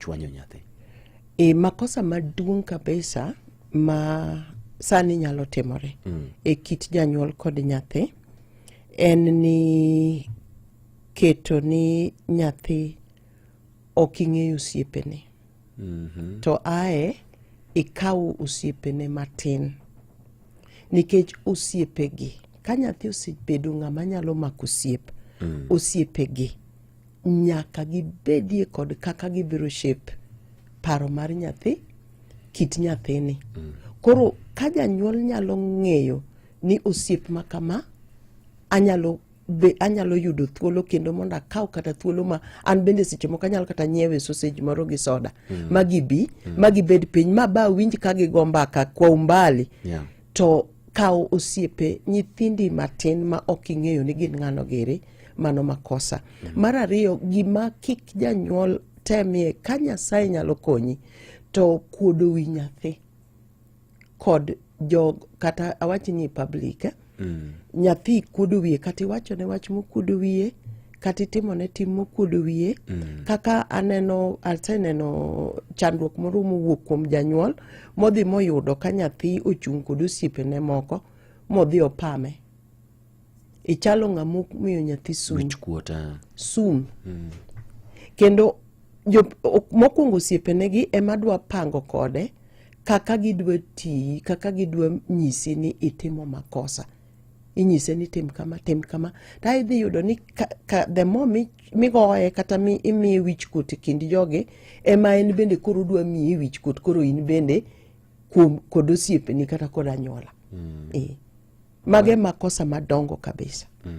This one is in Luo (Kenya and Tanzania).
chwanyo nyathi. E, makosa maduong' kabisa ma sani nyalo timore mm. e kit janyuol kod nyathi en ni keto ni nyathi ok ing'eyo osiepene mm -hmm. to ae ikawo osiepene matin nikech osiepegi ka nyathi osebedo ng'ama nyalo mako osiep mm. osiepegi nyaka gibedie kod kaka gibiro shape paro mar nyathi kit nyathini mm. koro ka janyuol nyalo ng'eyo ni osiep ma kama anyalo be anyalo yudo thuolo kendo mondo akaw kata thuolo ma an bende seche moko anyalo kata nyiewe sausage moro gi soda mm. ma gibi mm. ma gibed piny ma ba winj ka gigo mbaka kwa umbali yeah. to kawo osiepe nyithindi matin ma ok ing'eyo ni gin ng'ano giri mano makosa mm. mar ariyo gima kik janyuol temie ka nyasaye nyalo konyi to kuodo wi nyathi kod jog kata awach ni public eh? mm. nyathi kuodo wiye kata iwachone wach mokuodo wiye kata itimone tim mokuodo wiye mm. kaka aneno aseneno chandruok moro mowuok kuom janyuol modhi moyudo ka nyathi ochung' kod osiepene moko modhi opame ichalo ng'ama miyo nyathi sum ah. sum mm. kendo mokwongo osiepenegi ema dwa pango kode kaka gidwa tiyi kaka gidwa nyisi ni itimo makosa inyise ni tim kama tim kama ta idhi yudo ni ka, ka the more migoye kata mi imiye wich kut e kind jogi ema en bende koro dwa miye wich kut koro in bende kuom kod osiepeni kata kod anyuola mm. e. mage makosa madongo kabisa mm.